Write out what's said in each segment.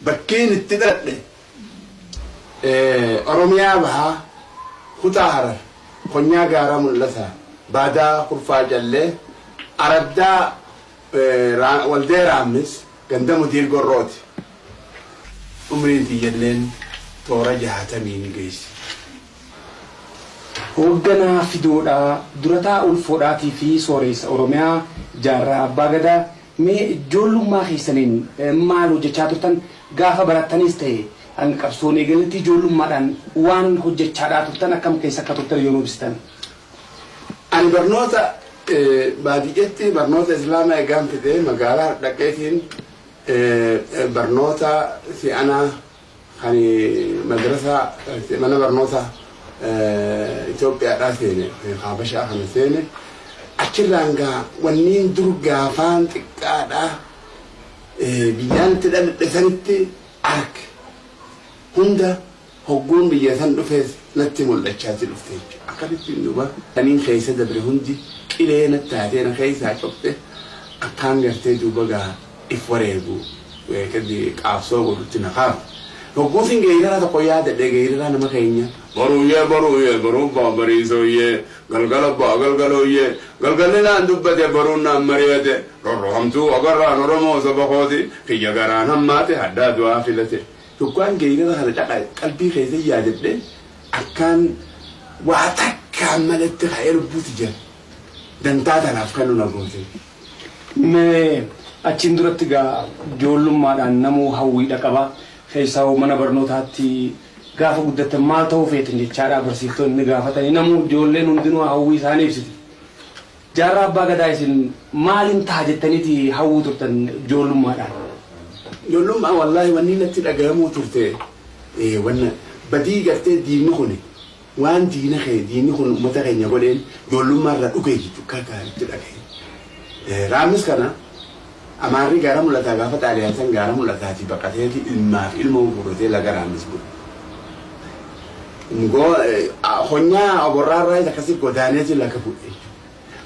Bakkeen itti dhaladhe Oromiyaa Bahaa Kutaa Harar Konyaa Gaaraa Mul'ataa Baadaa Kurfaa Callee Araddaa Waldee Raammis Ganda Mudiir Gorrooti. Umriin tiyyalleen toora jaatamii ni geessi. Hoogganaa Fidoodhaa, Durataa Ulfoodhaatii fi Sooreessa Oromiyaa, Jaarraa Abbaa Gadaa, Mee ijoollummaa keessaniin maal hojjechaa turtan? Gaafa barattanis ta'e hanga qabsoon eegaletti ijoollummaadhaan waan hojjechaadhaa turtan akkam keessa akka turtan yoo nuu ibsitan? Ani barnoota baadiyyatti barnoota Islaamaa egaan fide magaalaa dhaqeetiin barnoota si'anaa. Kan madrasaa mana barnoota Itoophiyaadhaa seene yookiin Haabashaa kana seene achirraan gaa wanniin dur gaafaan xiqqaadhaa biyyaan itti dhaladhe sanitti arke hunda hogguun biyya san dhufees natti mul'achaati dhufte jechuudha. Akkanittiin duuba kaniin keessa dabre hundi qilee natti taatee na keessaa cufte akkaan gartee duuba gaa if wareegu kadi qaabsoo godhutti na kaaf hogguusin geeyirara tokko yaadadhe geeyirara nama keenya boruuyyee boruuyyee boruun ba'a bariisooyyee galgala ba'a galgalooyyee galgalli naan dubbate boruun naan mari'ate rorro hamtuu agarraan oromoo saba kooti kiyya garaan hammaate haddaa du'aa filate hoggaan geeyirara kana dhaqa qalbii keessa yaadadhe akkaan waa takkaan maletti ka'ee lubbuu tiyya Dantaa tanaaf kan nu na goote. Mee achiin duratti egaa ijoollummaadhaan namuu hawwiidha qaba. Keessaahuu mana barnootaatti gaafa guddattan maal ta'uu feetan jechaadhaa barsiiftoonni ni gaafatanii namuu ijoolleen hundinuu hawwii isaanii ibsiti. Jaarraa Abbaa Gadaa isin maalin taha jettaniiti hawwuu turtan ijoollummaadhaan? Ijoollummaa wallaahi wanni natti dhagayamuu turte wanna badii gartee diinni kuni Waan diina kee diinni kun ummata keenya godheen joollummaa irraa dhugeeyyi cuqqaataa itti dhagahi. Raabnis kana Amaarri gaara mul'ataa gaafa xaaliyaan san gaara mul'ataatii baqateeti ilmaa fi ilmoo guurratee laga raammis bule. Konyaa oborraa irraayis akkasii godaaneeti laga bu'e jechuudha.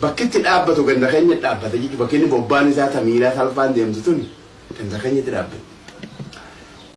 Bakki itti dhaabbatu ganda keenya dhaabbata jechuudha. Bakki inni bobbaan isaa tamiilaa salfaan deemtu tuni ganda keenyatti dhaabbatti.